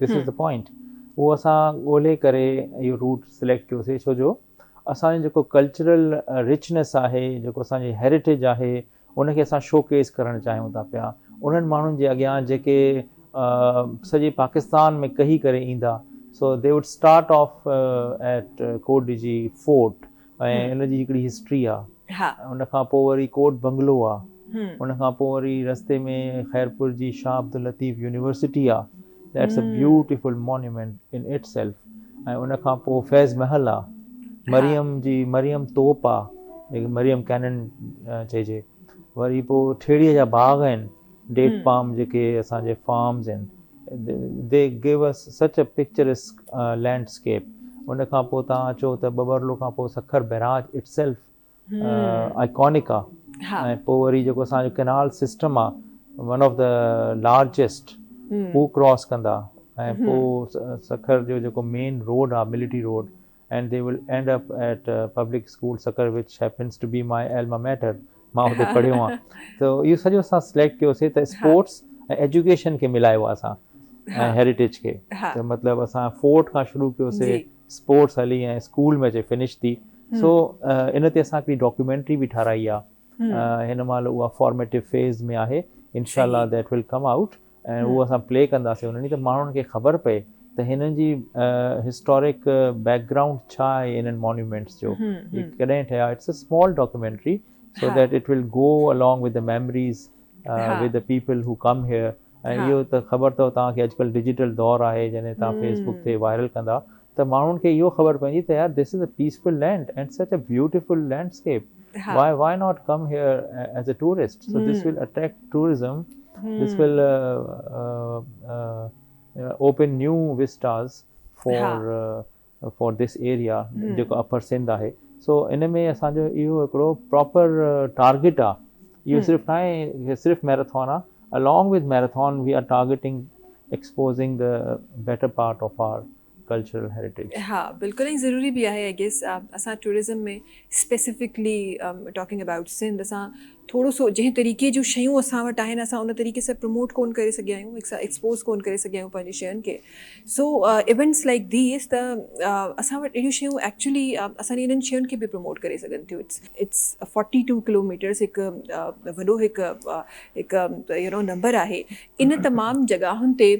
This is the point. اهو اسان ڳولهي ڪري اهو روٽ سليڪٽ ڪيوسي ڇو جو اسان جو جيڪو ڪلچرل رچنيس آهي جيڪو اسان جي هيريٽيج آهي ان کي اسان شو ڪيس ڪرڻ چاهيون ٿا پيا انهن ماڻهن جي اڳيان جيڪي سڄي پاڪستان ۾ ڪهي ڪري ايندا so they would start off at Kot Diji fort ۽ ان جي هڪڙي هسٽري آ ان کان پوء وري ڪوٽ بنگلو آ ان کان پوء وري رستي ۾ خيرپور جي شاهه عبداللطيف يونيورسٽي آ that's a beautiful monument in itself ۽ ان کان پوء فيض محل آ مريم جي مريم توپ آ جنهن کي مريم ڪينن چئجي وري پوء ٺيڙهي جا باغ آهن ڊيٽ پام جيڪي اسان جي فارمز آهن دي گيو اس سچ اي پڪچرسڪ لينڊ اسڪيپ ان کان پوء توهان اچو ته ٻٻرلو کان پوء Sukkur barrage itself iconic آ ۽ پوء وري جيڪو اسان جو ڪئنال سسٽم آ ون آف دي لارجسٽ هو ڪراس ڪندا ۽ پوء سکر جو جيڪو مين روڊ آ military road and they will end up at public school Sakkar which happens to be my alma mater مان اتي پڙهيو آهيان ته اهو سڄو اسان سليڪٽ ڪيو سي ته اسپورٽس ۽ ايجوڪيشن کي ملايو آهي اسان ۽ هيريٽيج کي ته مطلب اسان فورٽ کان شروع ڪيو سي اسپورٽس هلي ۽ اسڪول ۾ اچي فنش ٿي سو ان تي اسان هڪڙي ڊاڪيومينٽري به ٺاهرائي آهي هن مهل اها فارميٽو فيز ۾ آهي انشاء الله ذيٽ ول ڪم آئوٽ ۽ اهو اسان پلي ڪنداسين انهن جي ته ماڻهن کي خبر پئي ته هنن جي هسٽورڪ بيڪ گرائونڊ ڇا آهي انهن مونيومينٽس جو هي ڪڏهن ٺهيا it's a small documentary so that it will go along with the memories with the people who come here ۽ اهو ته خبر اٿو توهان کي اڄڪلهه ڊجيٽل دور آهي جڏهن توهان فيسبڪ تي وائرل ڪندا ته ماڻهن کي اهو خبر پوندي ته يار this is a peaceful land and such a beautiful landscape why why not come here as a tourist so this will attract tourism this will open new vistas for for this area جيڪو upper Sindh آهي سو ان ۾ اسان جو اهو هڪڙو proper target آهي اهو صرف ناهي صرف ميرٿون آهي Along with Marathon we are targeting exposing the better part of our cultural heritage. ها بلڪل ۽ ضروري به آهي آء گيس اسان tourism ۾ specifically talking about Sindh اسان ٿورو سو جنهن طريقي جون شيون اسان وٽ آهن اسان ان طريقي سان پروموٽ ڪون ڪري سگهيا آهيون هڪ سا ايڪسپوز ڪون ڪري سگهيا آهيون پنهنجي شين کي سو ايونٽس لائڪ ديس ته اسان وٽ اهڙيون شيون ايڪچولي اسان جي انهن شين کي به پروموٽ ڪري سگهن ٿيون it's it's forty two kilometres هڪ وڏو هڪ هڪ يو نو نمبر آهي ان تمام جڳاهن تي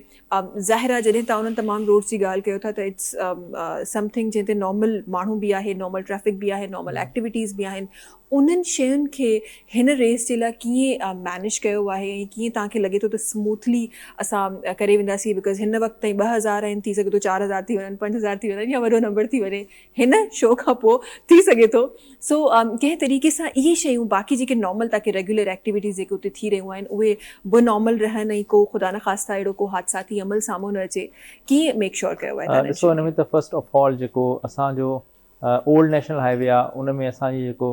ظاهر آهي جڏهن تان انهن تمام روڊس جي ڳالهه ڪيو ٿا ته اٽس سم ٿنگ جنهن تي نارمل ماڻهو به آهي نارمل ٽريفڪ به آهي نارمل ايڪٽيويٽيز به آهن انهن شين کي هن ريس جي لاء ڪيئن مينيج ڪيو آهي ۽ ڪيئن تان کي لڳي ٿو ته سموٿلي اسان ڪري وينداسين بڪاز هن وقت تائين ٻه هزار آهن ٿي سگهي ٿو چار هزار ٿي وڃن پنج هزار ٿي وڃن يا وڏو نمبر ٿي وڃي هن شو کان پوء ٿي سگهي ٿو سو ڪنهن طريقي سان اهي شيون باقي جيڪي نارمل تاڪي ريگيولر ايڪٽيويٽيز جيڪي اتي ٿي رهيون آهن اهي به نارمل رهن ۽ ڪو خدا نخواسته اهڙو ڪو حادثاتي عمل سامهون نه اچي ڪيئن ميڪ شور ڪيو ويو آهي ڏسو ان ۾ ته فرسٽ آف آل جيڪو اسان جو اولڊ نيشنل هاء وي آهي ان ۾ اسان جي جيڪو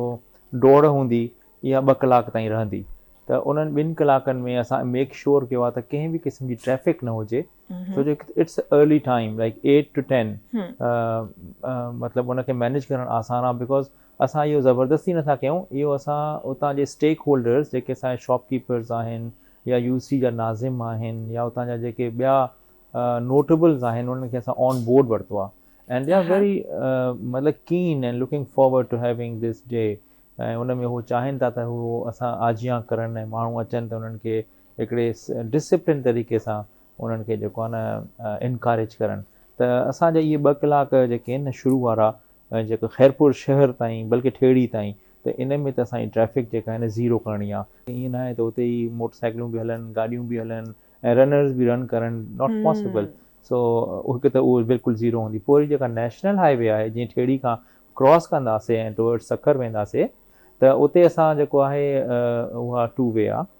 ڊوڙ هوندي اها ٻه ڪلاڪ تائين رهندي ته انهن ٻن ڪلاڪن ۾ اسان ميڪ شور ڪيو آهي ته ڪنهن به قسم جي ٽريفڪ نه هجي ڇو جو it's a early time like eight to ten مطلب ان کي مينيج ڪرڻ آسان آهي بڪاز اسان اهو زبردستي نٿا ڪيون اهو اسان اتان جي اسٽيڪ هولڊرز جيڪي اسان جا شاپ ڪيپرز آهن يا يو سي جا ناظم آهن يا اتان جا جيڪي ٻيا نوٽبلز آهن انهن کي اسان آن بورڊ ورتو آهي اینڈ دي آر ويري مطلب keen and looking forward to having this day ۽ ان ۾ هو چاهين ٿا ته هو اسان آجيان ڪرن ۽ ماڻهو اچن ته انهن کي هڪڙي ڊسپلن طريقي سان انهن کي جيڪو آهي نه انڪاريج ڪرڻ ته اسان جا اهي ٻه ڪلاڪ جيڪي آهن نه شروع وارا جيڪو خيرپور شهر تائين بلڪه ٺيڙهي تائين ته ان ۾ ته اسان جي ٽريفڪ جيڪا آهي نه زيرو ڪرڻي آهي. ائين نه آهي ته اتي ئي موٽر سائيڪلون به هلن گاڏيون به هلن ۽ رنرز به رن ڪرن ناٽ پاسبل سو هڪ ته اهو بلڪل زيرو هوندي پوء وري جيڪا نيشنل هاء وي آهي جيئن ٺيڙهي کان ڪراس ڪنداسين ۽ ٽوورڊز سکر وينداسين ته اتي اسان جيڪو آهي اها ٽو وي آهي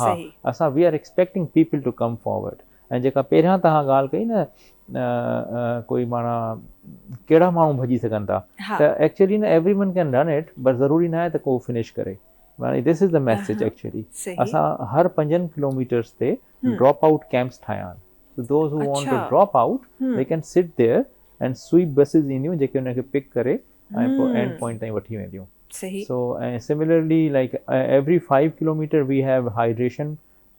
ها اسان we are expecting people to come forward ۽ جيڪا پهريان توهان ڳالهه ڪئي نه ڪوئي معنيٰ ڪهڙا ماڻهو ڀڄي سگهن ٿا ته ايڪچولي نه everyone can run it بس ضروري ناهي ته ڪو فنش ڪري معنيٰ this is the message actually اسان هر پنجن ڪلوميٽرس تي ڊراپ آئوٽ ڪيمپس ٺاهيا آهن so those who want to drop out they can sit there and sweep buses اينديون جيڪي ان کي پڪ ڪري ۽ پوء اينڊ پوائنٽ تائين وٺي وينديون so ۽ similarly like every five kilometre we have hydration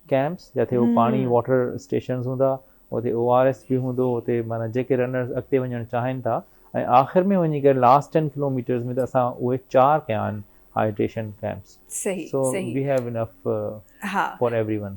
camps جتي هو پاڻي واٽر اسٽيشنز هوندا اتي او آر ايس به هوندو اتي معنيٰ جيڪي رنرز اڳتي وڃڻ چاهين ٿا ۽ آخر ۾ وڃي ڪري لاسٽ ٽين ڪلوميٽرز ۾ ته اسان اهي چار ڪيا آهن hydration camps so we have enough for every one